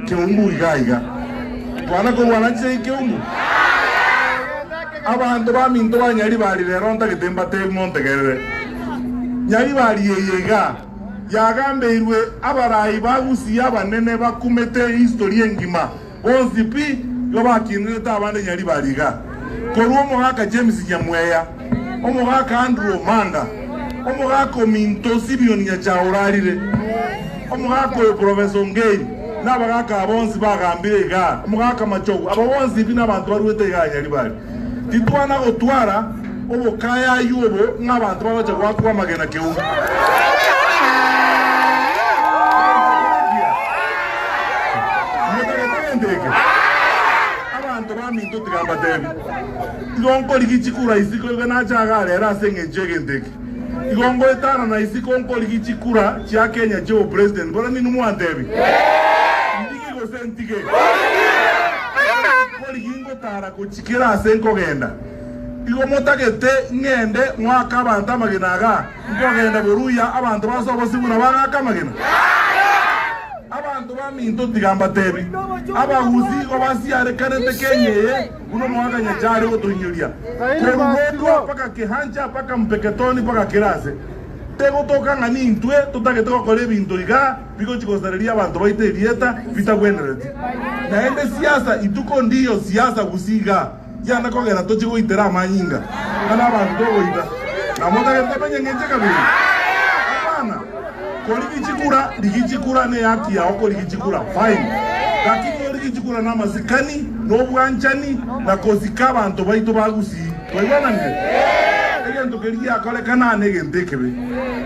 Keumbu iga iga. Kwana korwana chinsa chi Keumbu. Abanto ba minto ba Nyaribari rero ntagete mbatebi montegerere. Nyaribari eye iga yagambeirwe abarai ba Gusii abanene bakumete history engima. Bonsi pi igo bakinenete abande Nyaribari iga. Korwa omogaka James Nyamweya. Omogaka Andrew Omanda, Omogaka ominto Simeon Nyacha orarire, Omogaka oyo Professor Ongei, na abagaka aba bonsi bagambire igaa, Omogaka Machogu, aba bonsi bi nabanto baruete igaa Nyaribari. Titwana gotwara obokayayu obo ng'a abanto bagocha goakwa amagena keonge. Igo nkorigia chikura isiko iga nache iga are ere ase engencho y'egento eke. Igo ngoetana na isiko nkorigia chikura chia Kenya chi'obopresident. Bora ning'o mwantebi? Ndigi gose ntige? Nkorigia ngotara gochia kera ase nkogenda. Igo motagete ng'ende ng'oake abanto amagena iga nkogenda boruya abanto base obosio buna bang'ake amagena? Abanto baminto tiga mbatebi, abagusii igo basiarekanete Kenya eye. Buna omwaganya chare gotoinyoria korwa Gondua mpaka Kehancha mpaka Mpeketoni mpaka Kirase, tegotoka ng'a nintwe totagete gokora ebinto iga bigochia gosareria abanto baito erieta bitagwenereti. Naende siasa ituko ndiyo siasa gusii iga yane kogera tochie goitera amanyinga ng'a nabanto togoita. Namotagete tomenye ng'enche kabere? Hapana. Kori gichikura rigichikura neyaki yao kori gichikura fine gaki kori gichikura namasikani nobwanchani na kosika abanto baito ba Gusii twaigwananire egento keria giakorekana aa negento ekebe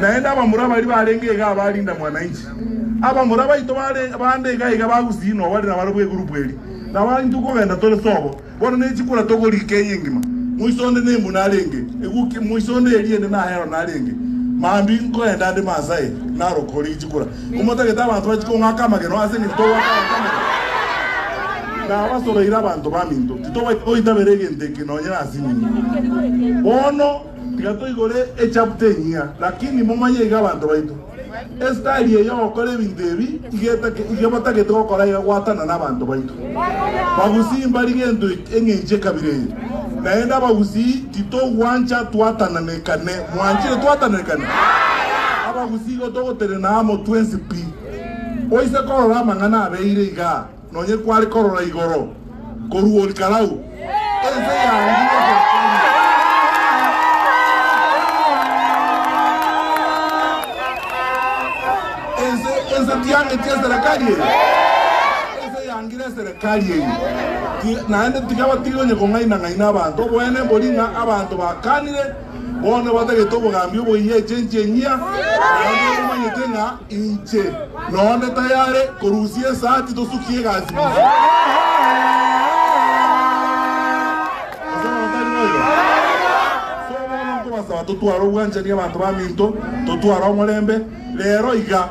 naende abamura baria barenge iga abarinda mwananchi abamura baito bande iga iga ba Gusii nobari nabarabwo egroup eri nabo intwe kogenda tore sobo Bono ninche koratoga riika eye engima. Moiso onde nembu narenge, egukia, moiso onde eriende nahero narenge. Mambia nkoenda nde Maasai, naroka oria ichikora. Komotagete abanto bache kong'aka amageno ase eng'encho togwata abanto amagena. Nabasoroire abanto baminto, titobaisa goitabera egento eke nonye nasinini. Bono tiga toigore echapter enyia, lakini momanye iga abanto baito. Esitayari eye y'ogokora ebinto ebi iga etake iga batagete gokora egegwatana n'abanto baito. Bagusii mbari gento eki eng'encho ekabira eye. Naende abagusii titogwancha twatananekane. Mwanchire twatananekane? Abagusii igo togotenena amo twensi pi. Oise korora amang'ana abeire igaa. Nonye kware korora igoro korwa orikarau, ense yaangirwe gotoria. Ense, ense tiangeti eserekari eye. Ense yaangire eserekari eye. Ti- Naende tikaba tiri onye kong'aina-ng'aina abanto. Oboene mbori ng'a abanto bakanire Bono batagete obogambi oboyia echenchi enyia, naende omanyete ng'a inche nonde tayare korusia esati tosukie egasi bosio. As'abana tari boigo? So bono nkobasaba totware obwanchani abanto baminto, totware omorembe, rero iga.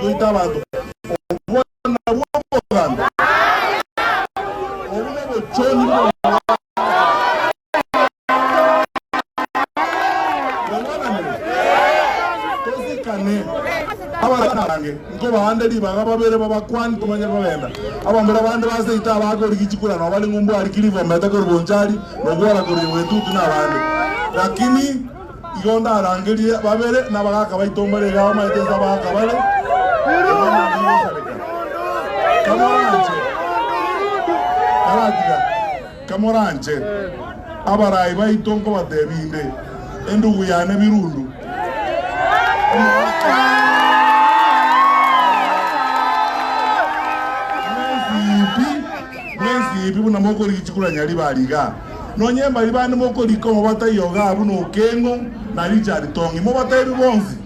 Goita abanto obwana bw'omoganda. Obwo nobochoni bw'omoganda. Mwaigwananire? Tosikane. Abasani abange nkobaande ribaga babere b'abakuani tibanyare kogenda. Abambura bande ba seito aba akori gichikura nao bari ng'umbu Arikilifu omete kori Bonchari, na Oguara kori Ewetutu, na abande. Lakini. Igo ndarangerie babere nabagaaka baito mbare iga abamaete inse abagaaka bare iga naende ngosareka. Kamoranche, karatiga, kamoranche abaraai baito nkobateebia inde endugu yane Birundu, omogaka bw'ensiibi buna mokorigia chikuranyari bare igaa. Nonye mbari bande mokorika omobatayo ogaa buna Okeng'o na Richard Tong'i, mobateebie bonsi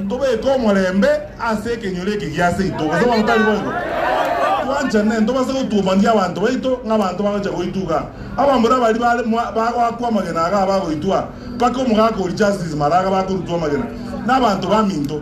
tobeke omorembe ase ekenyoro eke gia seito, gose bono tari boigo? Twanchane, ntobase gotuomania abanto baito ng'abanto bagocha goitwa iga. Abamura baria bare bagoakwa amagena agaa bagoitwa, mpaka omogaka o Justice Maraga bakorutwa amagena nabaanto baminto.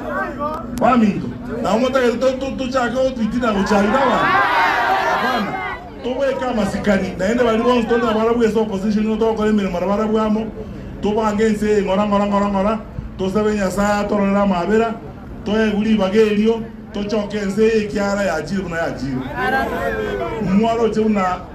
Naboigo. Baminto, nao motagete tochake gotwitina gochia aino abanto? Hapana. Tobweke amasikani, naende baria bonsi tore nabo arabu ase opposition nigo togokora emeremo nabo arabu amo, tobange ense eye ng'ora ng'ora ng'ora ng'ora, tosabe Nyasae atororere amaabera, toegwe ribaga erio, tochoke ense eye ekiara yachiire buna yachiire. Mwaroche buna.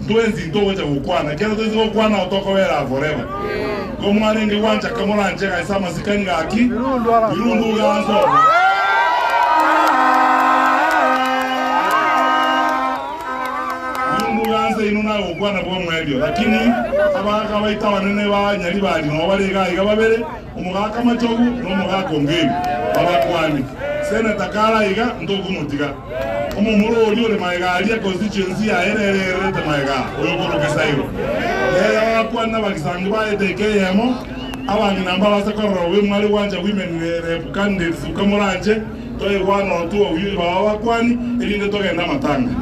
Ntwensi ntogocha gokwana, ekero toise gokwana nao tokobera aa forever. Igo mwarenge gwanchaka moranchega ase amasikani gaki, Birundu gansoma. Birundu gansa inwe naye gokwana bw'omoerio, lakini abagaaka baito abanene ba Nyaribari nao bare iga iga babere, Omogaka Machogu na Omogaka Ongeri babakwani. Seneta kare aiga ntokomotiga. Omomura oria ore magega aria constituency yaye nere ererete magega oyo korwa Gesairo. Nere abakwani na abagisangi ba etaika eyemo, abang'ina mbarase korora obe mware gwancha women rep candidates ukamoranche, toegwa notu obuya baba abakwani, erinde togende amatanga.